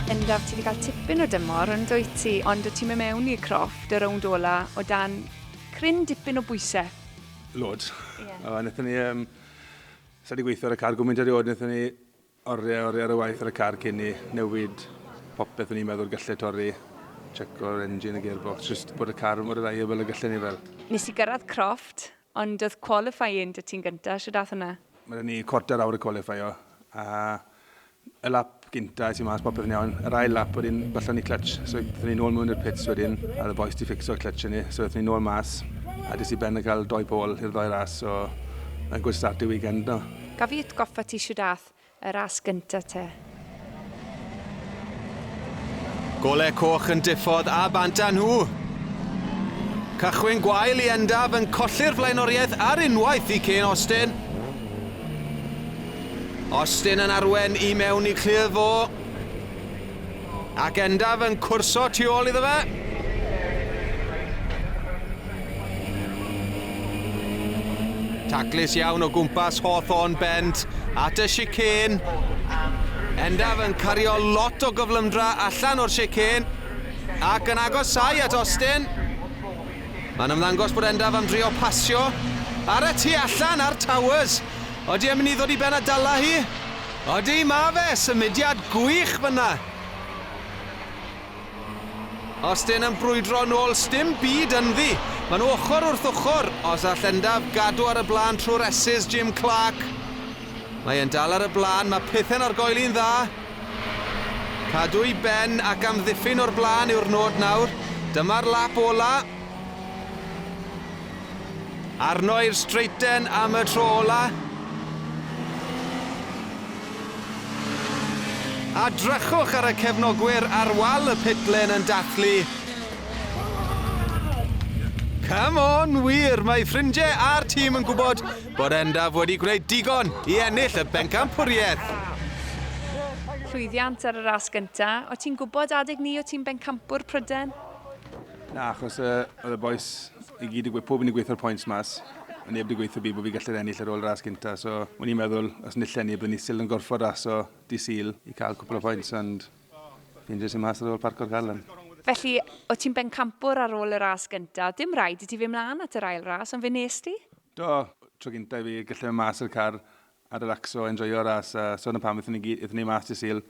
Bendaf, ti 'di cael tipyn o dymor yn dwyt ti, ond o ti'n mynd mewn i'r croft y rownd ola o dan cryn dipyn o bwysau. Loads. Yeah. Wnaethon ni... Um, Sa wedi gweithio ar y car gwmynt erioed, wnaethon ni Oriau, oriau ar y waith ar y car cyn i newid popeth o'n i'n meddwl gallai torri, checko'r engine, y gearbox, just bod y car yn mor reliable y gallai ni fel. Nes i gyrraedd Croft, ond oedd qualifying 'da ti'n gynta, shwd ath hwnna? Ma' 'da ni quarter awr i qualifio, a y lap gynta es i mas popeth yn iawn, yr ail lap wedyn gollon ni clutch, so ethon ni nôl mewn i'r pits wedyn, a oedd y bois 'di ffixo'r clutch i ni, so ethon ni nôl mas, a des i ben yn cael doi pole i'r ddoi ras, so mae'n good start i weekend 'no. Gaf i atgoffa ti shwd ath y ras gynta te? Gole coch yn diffodd a bant â nhw. Cychwyn gwael i Endaf yn colli'r flaenoriaeth ar unwaith i Kane Austin. Austin yn arwen i mewn i clir fo. Ac Endaf yn cwrso tu ôl iddo fe. Taclus iawn o gwmpas Hawthorn Bent at y chicane. Endaf yn cario lot o gyflymdra allan o'r chicane ac yn agosau at Austin. Mae'n ymddangos bod Endaf am drio pasio ar y tu allan ar Towers. Oeddi yn mynd i ddod i ben a dala hi? Odi, ma fe! Symudiad gwych fynna! Austin yn brwydro nôl, sdim byd ynddi. Maen nhw ochr wrth ochr, os all Endaf gadw ar y blaen trwy'r esys Jim Clark. Mae e'n dal ar y blaen, mae pethau'n argoeli'n dda. Cadw i ben ac amddiffyn o'r blaen yw'r nod nawr. Dyma'r lap ola. Arno i'r streiten am y tro ola. A drychwch ar y cefnogwyr ar wal y pitlen yn dathlu. Come on, wir, mae ffrindiau a'r tîm yn gwybod bod Endaf wedi gwneud digon i ennill y bencampwriaeth. Llwyddiant ar y ras gynta. O ti'n gwybod adeg ni o ti'n bencampwr Pryden? Na, achos uh, oedd y boes i gyd i gweithio, pob yn i gweithio'r pwynt mas. Ond neb wedi gweithio byd bod fi gallu ennill ar ôl ras gynta. So, o'n i'n meddwl, os nill enni, byddwn ni still yn gorfod ras o di syl i cael cwpl o pwynt. Ond fi'n jyst i mas ar ôl parco'r galon. Felly, o ti'n bencampwr ar ôl y ras gynta. Dim rhaid i ti fy mlaen at yr ail ras, ond fe nes ti? Do, tro gynta i fi gallu mas o'r car a relacso a enjoio'r ras a so 'na pam ethon ni gy- ethon ni mas dy' Sul.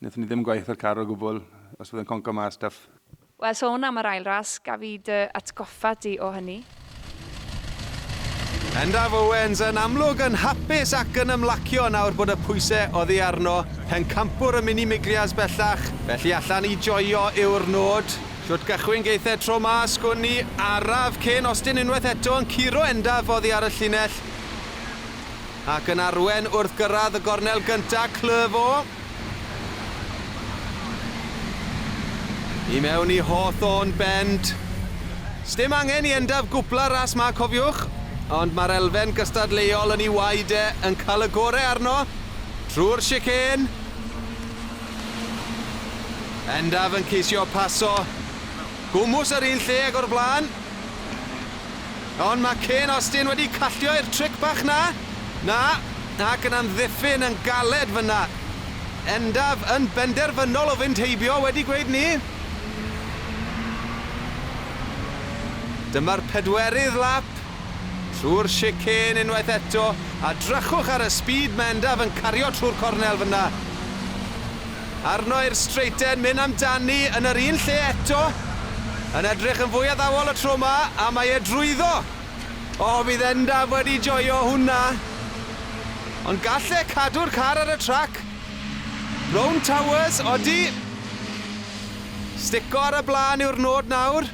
Nethon ni ddim gwaith ar car o gwbwl os fydd e'n conco mas stuff. Wel sôn am yr ail ras, gaf i dy atgoffa di o hynny? Endaf Owens yn amlwg yn hapus ac yn ymlacio nawr bod y pwyse oddi arno, pencampwr y mini Miglias bellach, felly allan i joio yw'r nod. Shwt gychwyn geith e tro 'ma, sgwn i, araf cyn ostyn unwaith eto yn curo Endaf oddi ar y llinell. Ac yn arwen wrth gyrraedd y gornel gyntaf, Clervaux. I mewn i Hawthorn Bend. Sdim angen i Endaf gwpla ras 'ma, cofiwch. Ond mae'r elfen gystadleuol yn ei waed e, yn cael y gorau arno. Trwy'r chicane. Endaf yn ceisio paso. Gwmws yr un lle ag o'r blaen. Ond mae Kane Austin wedi callio i'r tric bach 'na. Na, ac yn amddiffyn yn galed fan'na. Endaf yn benderfynol o fynd heibio wedi gweud 'ny. Dyma'r pedwerydd lap. Trwy'r chicane unwaith eto, a drychwch ar y speed mae Endaf yn cario trwy'r cornel fan'na. Arno i'r streeten myn am dani yn yr un lle eto. Yn edrych yn fwy addawol y tro ma a mae e drwyddo. O bydd Endaf wedi joio hwnna. Ond gall e cadw'r car ar y trac? Rownd Towers, odi! Stico ar y blaen yw'r nod nawr.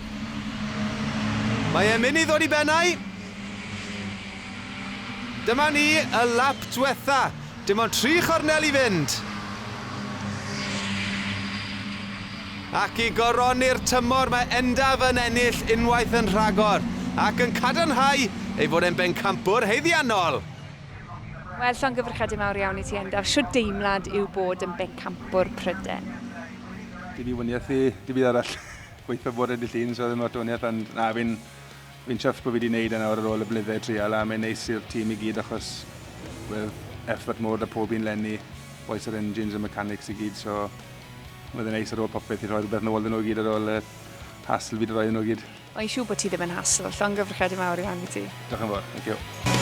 Mae e myn i ddod i bennau. Dyma ni, y lap dwetha. Dim ond tri chornel i fynd! Ac i goroni'r tymor mae Endaf yn ennill unwaith yn rhagor ac yn cadarnhau ei fod e'n bencampwr haeddiannol! Wel, llongyfarchiadau mawr iawn i ti Endaf, shwt deimlad yw bod yn bencampwr Pryden? Dim i waniaethu, dim byd arall. Gobeithio bod e'n dy llun so ddim lot o waniaeth ond na fi'n Fi'n chuffed bod fi 'di neud e nawr ar ôl y blynydde treial a mae'n neis i'r tîm i gyd achos wel effort mowr 'da pob un 'lenni, bois yr engines a mechanics i gyd so ma' fe'n neis ar ôl popeth i rhoi rhywbeth nôl 'da nhw i gyd ar ôl y hassle fi 'di rhoi iddyn nhw i gyd. Mae'n siŵr bod ti ddim yn hassle, llongyfarchiadau mawr iawn i ti. Diolch yn fawr, thank you.